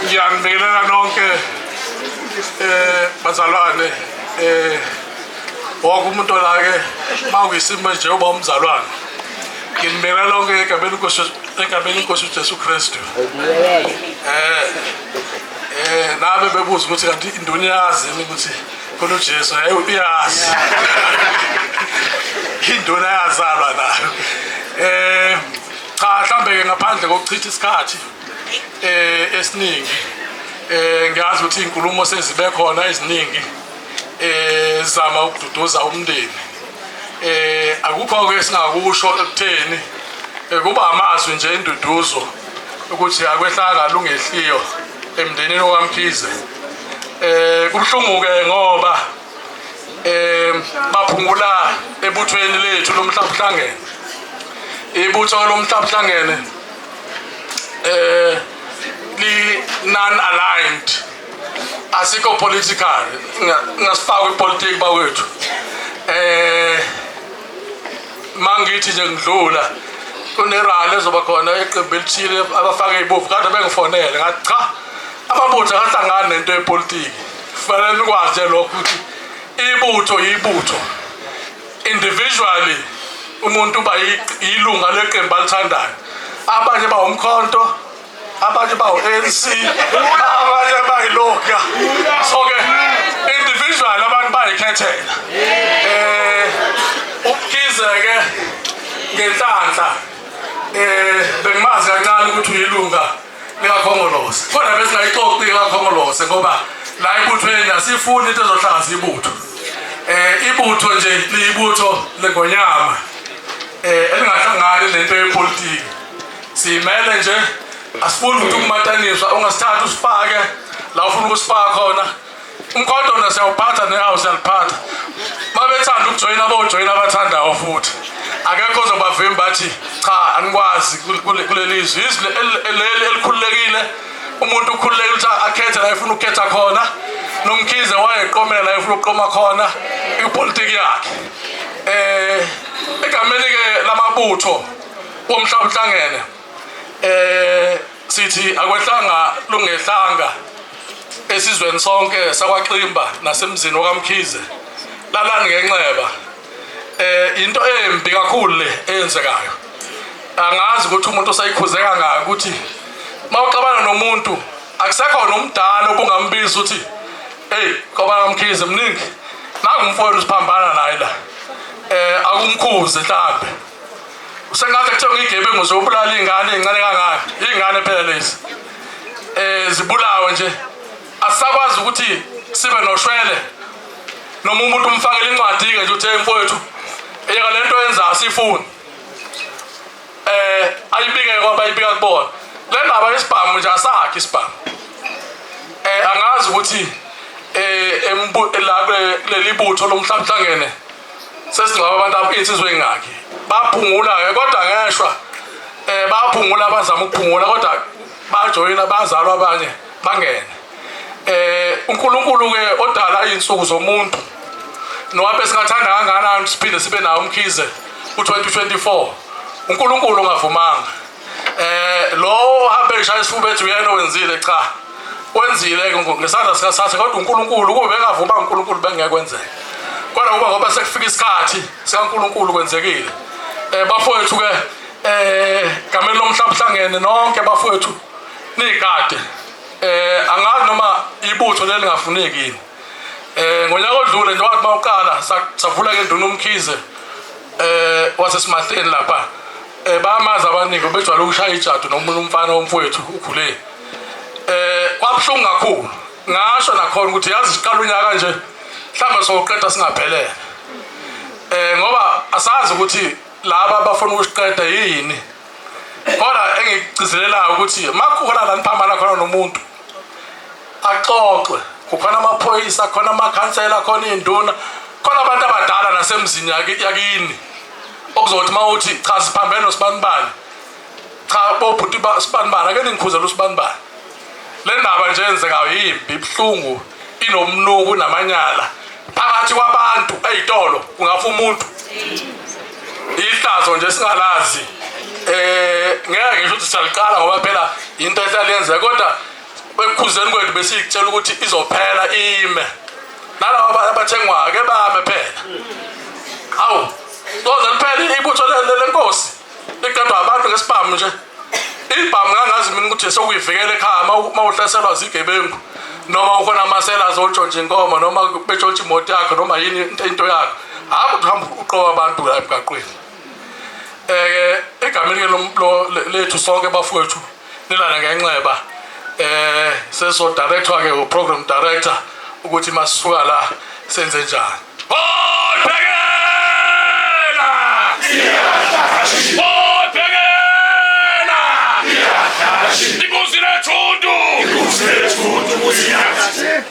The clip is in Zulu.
ngiyanibingelela nonke eh bazalwane eh wonke umuntu olake mawuyisimo nje uba umzalwane nginibingelela lonke egameni inkosi egameni inkosi uJesu Kristu eh eh nabe bebuza ukuthi kanti indoni yazi ukuthi khona uJesu hayi uyazi indoni yazalwa nayo eh cha mhlambe-ke ngaphandle kokuchitha isikhathi um esiningi um ngiyazi ukuthi iy'nkulumo sezibe khona eziningi um zizama ukududuza umndeni um akukho-ke esingakusho ekutheni um kuba amazwi nje induduzo ukuthi akwehlanga lungehliyo emndenini okamkhize um kubuhlungu-ke ngoba um baphungula ebuthweni lethu lomhlabuhlangene ibutho lomhlabuhlangene um eh, li-non aligned asikho political ngasifakwa ipolitiki bakwethu um mangithi nje ngidlula kunerali ezoba khona iqembu elithile abafake ibovu kade bengifonele ngathi cha amabutho akahlangani nento yepolitiki kufanele nikwazi lokho ukuthi ibutho yibutho individually umuntu uba yilunga leqembu alithandayo abanye bawumkhonto abanye bawu-anc abanye bayiloga so-ke individual abantu bayikhethela um ubukhize-ke ngenhlanhla um bengimazi kancane ukuthi uyilunga likakhongolose kodwa besingayixoxi likakhongolose ngoba la ibuthweni asifuni into ezohlangazisa ibutho eh ibutho nje liyibutho lengonyama eh elingahlangani nento yepolitiki simele nje asifuni ukuthi kumataniswa ungasithatha usifake la ufuna ukusifaka khona Inkodola siyawuphatha nehawu siyaliphatha. Babethanda ukujoyina bojoyina abathandayo futhi. Akekho ozobavimba bathi cha anikwazi kuleli izwi. Izwi leli elikhululekile umuntu ukhululekile ukuthi akhethe la efuna ukukhetha khona. Nomkhize wayeqomela la efuna ukuqoma khona ipolitiki yakhe. Eh egameni ke lamabutho womhlaba uhlangene. Eh sithi akwehlanga lungehlanga esizweni sonke sakwaXimba nasemzini okaMkhize lalani ngenxeba eh into embi kakhulu le eyenzekayo angazi ukuthi umuntu osayikhuzeka ngayo ukuthi mawuxabana nomuntu akusekho nomdala obungambiza ukuthi hey ngoba ngamkhize mningi nakumfowenu siphambana naye la eh akumkhuze mhlambe Sengathi kuthiwa ngigebengu zobulala iy'ngane ey'ncane kangaka iy'ngane phela lezi um zibulawe nje asisakwazi ukuthi sibe noshwele noma umuntu umfakele incwadi-ke nje uthi mfowethu yeka le nto yenza asiyifuni um eh, ayibike kwabayibika kubona le ndaba yesibhamu nje asakhe isibhamu um angazi ukuthi um la kuleli butho lomhlaba uhlangene sesingaba abantu insizwa engaki baphungula-ke kodwa ngeshwa um baphungula abazama ukuphungula kodwa bajoyina bazalwa abanye bangene eh uNkulunkulu ke odala izinsuku zomuntu nowabe singathanda kangakanani siphinde sibe nawo umkhize ku2024 uNkulunkulu ungavumanga eh lowo uhambe eshaya isifuba ethi uyena wenzile cha wenzile ngesandla sikasathe kodwa uNkulunkulu kube engavuma uNkulunkulu bengekwenzeka kodwa ngoba ngoba sekufika isikhathi sikaNkulunkulu kwenzekile eh bafowethu ke eh gameni lomhlaba hlangene nonke bafowethu nigade eh angazi noma ibutho lelingafuneki yini Eh ngonyaka odlule njengoba kuba uqala savula ke nduna umkhize eh wasesimahleni lapha eh bamazi abaningi bejwayele ukushaya ijadu nomuntu umfana womfowethu ukhule eh kwabuhlungu kakhulu ngasho nakhona ukuthi yazi siqala unyaka nje mhlawumbe soqeda singaphelele eh ngoba asazi ukuthi laba abafuna ukusiqeda yini kodwa engikugcizelelayo ukuthi makukhona la niphambana khona nomuntu axoxwe kukhona amaphoyisa khona amakhansela khona iy'nduna khona abantu abadala nasemzini yakini okuzothi uma uthi cha siphambene nosibanibani cha bobhuti sibanibani ake ningikhuzela usibanibani le ndaba nje enzekayo yimbi ibuhlungu inomnuku namanyala phakathi kwabantu ey'tolo kungafa umuntu ihlazo nje singalazi um ngeke ngisho ukuthi siyaliqala ngoba phela yinto ehlala yenzeka kodwa Ekukhuzeni kwethu besiyitshela ukuthi izophela ime. Nalabo abathengwayo ke bame phela. Hawu, doze liphele ibutho lenkosi. Liqedwa abantu ngesibhamu nje. Ibhamu ngangazi mina ukuthi sokuyivikela ekhaya uma uhlaselwa zigebengu. noma ukhona amasela azotshontsha inkomo noma betshontsha imoto yakho noma yini into yakho hayi ukuthi uhamba uqoba abantu la emgaqweni um egameni lethu sonke bafowethu Nilana ngenxeba eh seso director ke u program director ukuthi masisuka la senze njani. Oh bhekela! Oh bhekela! Ikuzi lethundu! Ikuzi lethundu kuyathi.